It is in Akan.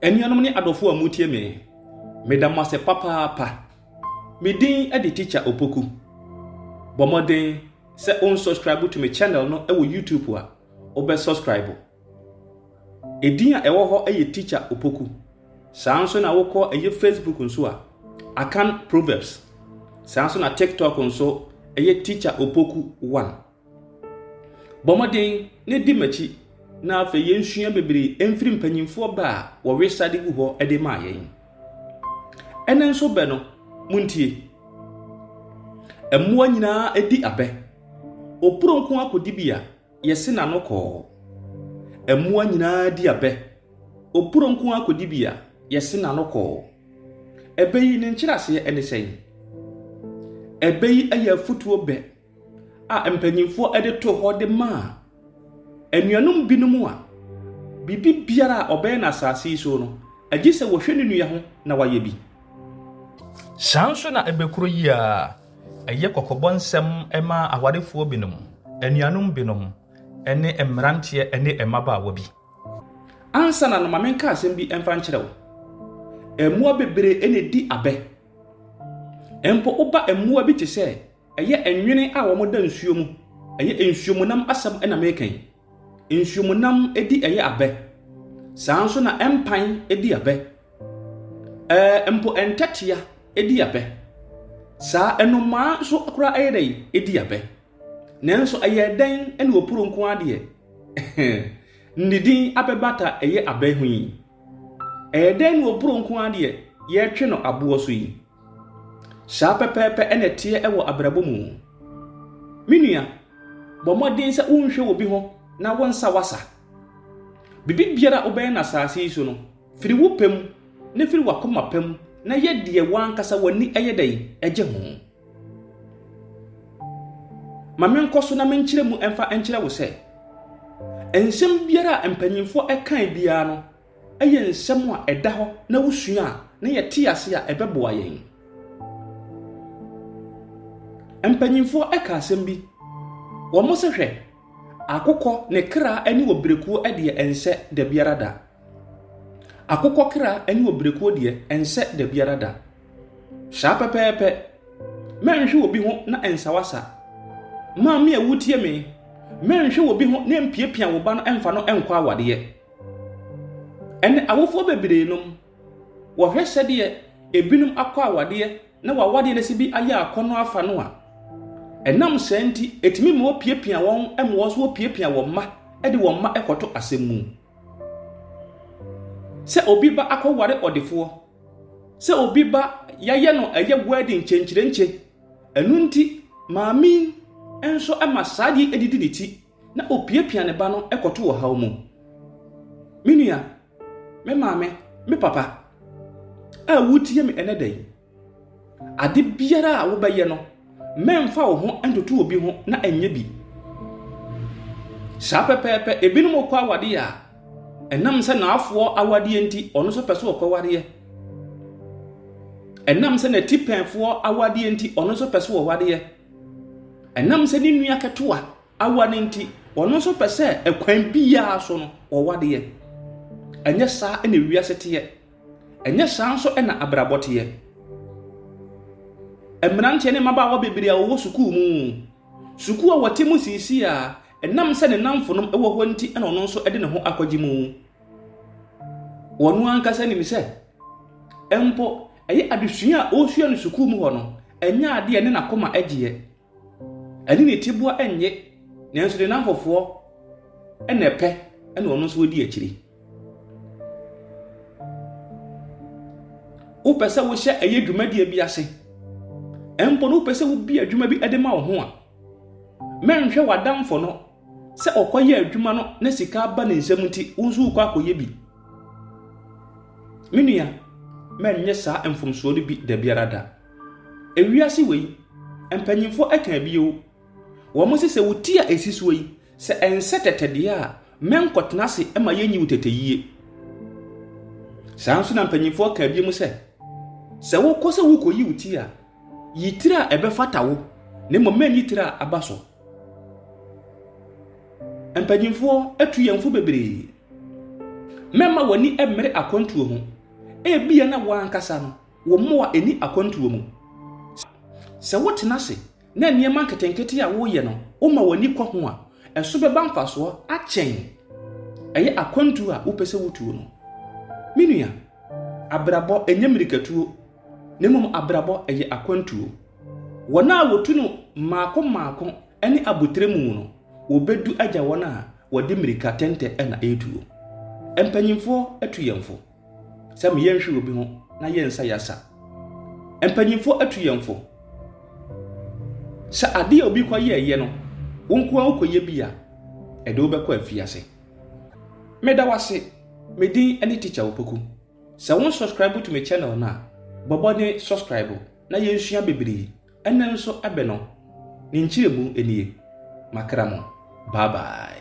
Anuanom ne adɔfo a motie me, meda mo ase papaapa. Me din de Teacher Opoku. Bɔ mmɔden sɛ wo unsubscribe to me channel no wɔ YouTube a, wobɛ subscribe. Edin a ɛwɔ hɔ yɛ Teacher Opoku. Saa nso na wokɔ ɛyɛ Facebook nso a, Akan Proverbs. Saa nso na TikTok nso ɛyɛ Teacher Opoku 1. Bɔ mmɔden na di m'akyi na afei yɛnsua bebree mfiri mpanimfoɔ bɛ a wɔwe srade gu hɔ de ma yɛn. Ɛnɛ nso bɛ no, montie. Mmoa nyinaa di abɛ. Opuronko akodibea, yɛse n'ano kɔɔ. Mmoa nyinaa di abɛ. Opuronko akodibea, yɛse n'ano kɔɔ. Ɛbɛ yi ne nkyerɛaseɛ ne sɛn? Ɛbɛ yi yɛ afotuo bɛ a mpanimfoɔ de to hɔ de maa anuanom binom a biribi biara a ɔbɛyɛ no asase yi so no, agye sɛ wɔhwɛ ne nua ho na wayɛ bi. Saa nso na ɛbɛkuro yi a ɛyɛ kɔkɔbɔ nsɛm ma awarefoɔ binom, anuanom binom, ne mmeranteɛ ne mmabaawa bi. Ansa na no ma menka asɛm bi mfa nkyerɛ wo. Mmoa bebree na ɛdi abɛ. Mpo woba mmoa bi te sɛ Ɛyɛ nwene a wɔda nsuo mu. Ɛyɛ nsuomunam asɛm na meka yi. Nsuomunam di ɛyɛ abɛ. Saa nso na mpan di abɛ. Ɛɛ mpo ntɛtea di abɛ. Saa nnomaa nso koraa ɛyɛ dɛn? Ɛdi abɛ. Nanso ɛyɛ dɛn na opuro nko ara deɛ? ne din abɛbata ɛyɛ abɛ ho yi. Ɛyɛ dɛn na opuro nko ara deɛ yɛtwe no aboɔ so yi? Saa pɛpɛɛpɛ na ɛteɛ wɔ abrabɔ mu. Me nua, bɔ mmɔden sɛ wonhwɛ obi ho na wonsa w'asa. Biribiara a wobɛyɛ no asase yi so no, firi wo pɛ mu na firi w'akoma pa mu na yɛ deɛ w'ankasa w'ani yɛ dɛn gye ho. Ma menkɔ so na menkyerɛ mu mfa nkyerɛ wo sɛ, nsɛm biara a mpanimfoɔ kae biara no, Ɛyɛ nsɛm a ɛda hɔ na wusua a, na yɛte ase a, ɛbɛboa yɛn. Mpanyimfo ka asɛm bi, wɔse hwɛ, akokɔ ne kra ne ɔbrɛkuo deɛ ɛnsɛ da biara da. Akokɔ kra ne ɔbrɛkuo deɛ ɛnsɛ da biara da. Saa pɛpɛɛpɛ, mɛnhwe obi ho na ɛnsawasa. Maame a wotie me, mɛnhwe obi ho na ɛmpiapia wo ba no ɛmfa no nkɔ awadeɛ. Ɛnnɛ, awofoɔ bebree nom, wɔhwɛ sɛdeɛ ebinom akɔ awadeɛ na w'awadeɛ no asi bi ayɛ akɔnnɔ afa no a, ɛnam saa nti, ɛtumi ma wɔpiapia wɔn ma wɔn nso wɔpiapia wɔn mma de wɔn mma kɔto asɛm mu. Sɛ obi ba akɔware ɔdefoɔ, sɛ obi ba yɛayɛ no ɛyɛ wedding kyenkyerenkye, ɛno nti maame nso ma saa adeɛ didi ne ti. na opiapia ne ba no kɔto ɔhaw mu. Me nua, me maame, me papa a wutie me ɛnɛ da yi, ade biara a wobɛyɛ no, mɛmfa wo ho ntoto obi ho na ɛnyɛ bi. Saa pɛpɛɛpɛ, ebinom kɔ awadeɛ a, ɛnam sɛ n'afoɔ awadeɛ nti, ɔno nso pɛ sɛ ɔkɔwadeɛ. Ɛnam sɛ n'atipɛnfoɔ awadeɛ nti, ɔno nso pɛ sɛ ɔwadeɛ. Ɛnam sɛ ne nua ketewa awa no nti, ɔno nso pɛ sɛ ɛkwan biara so no ɔwa deɛ. Ɛnyɛ saa na wiase teɛ. Ɛnyɛ saa nso na abrabɔ teɛ. Mmeranteɛ ne mmabaawa bebree a wɔwɔ sukuu mu, sukuu a wɔte mu siisi a ɛnam sɛ ne nnamfonom wɔ hɔ nti na ɔno nso de ne ho akɔgye mu. Ɔno ankasa nim sɛ mpo Ɛyɛ adesua a ɔresua no sukuu mu hɔ no, ɛnyɛ ade a ɛne n'akoma gye yɛ. Ɛne ne tiboa nnye, nanso ne nnamfofoɔ na ɛpɛ na ɔno nso ɔdi akyire. Wopɛ sɛ wohyɛ ɛyɛ dwumadie bi ase, mpo no wopɛ sɛ wobi adwuma bi de ma wo ho a, mɛnhwɛ w'adamfo no Sɛ ɔkɔyɛ adwuma no na sika aba ne nsam nti, wo nso wokɔ akɔyɛ bi. Me nua, mɛnyɛ saa mfomsoɔ no bi da biara da. Ewiase wei, mpanyimfoɔ ɛka bi o, wɔn se sɛ wo ti a ɛsi soɔ yi, sɛ ɛnsɛ tɛtɛ deɛ a, mɛnkɔtena ase ma yɛnyi wo tɛtɛyie. Saa nso na mpanyimfoɔ ka bi mu sɛ, sɛ wokɔ sɛ wokɔyi wo ti a, yi tiri a ɛbɛfata wo, na mmom mɛnyi tiri a aba so. Mpanyimfoɔ atu yɛn fo bebree. Mɛmma w'ani mmere akwantuo ho. Ebia na wo ankasa no, wo mmoa nni akwantuo mu. Sɛ wotena ase na nneɛma nketenkete a woreyɛ no, woma w'ani kɔ ho a, ɛso bɛba mfasoɔ akyɛn ɛyɛ akwantuo a wopɛ sɛ wotuo no. Me nua, abrabɔ nyɛ mmirikatuo. na mmom abrabɔ, ɛyɛ akwantuo. Wɔn a wɔtu no mmaako mmaako ne abotire mu no, wɔbɛdu agya wɔn a wɔde mmirika tɛntɛ na ɛretuo. Mpanimfoɔ atu yɛn fo sɛ me yɛnhwe obi ho na yɛn nsa yasa. Mpanimfoɔ atu yɛn fo sɛ adeɛ a obi kɔyɛɛyɛ no, wo nko ara wokɔyɛ bi a, ɛde wobɛkɔ afiase. Meda wo ase, me din ne Tikya Opoku. Sɛ wo nsɔskraibu to me channel no a, bɔ bɔden sɔskraibu na yɛnsua bebree. Ɛnnɛ nso bɛ no ne nkyerɛmu nie. Makra mo. Bye bye.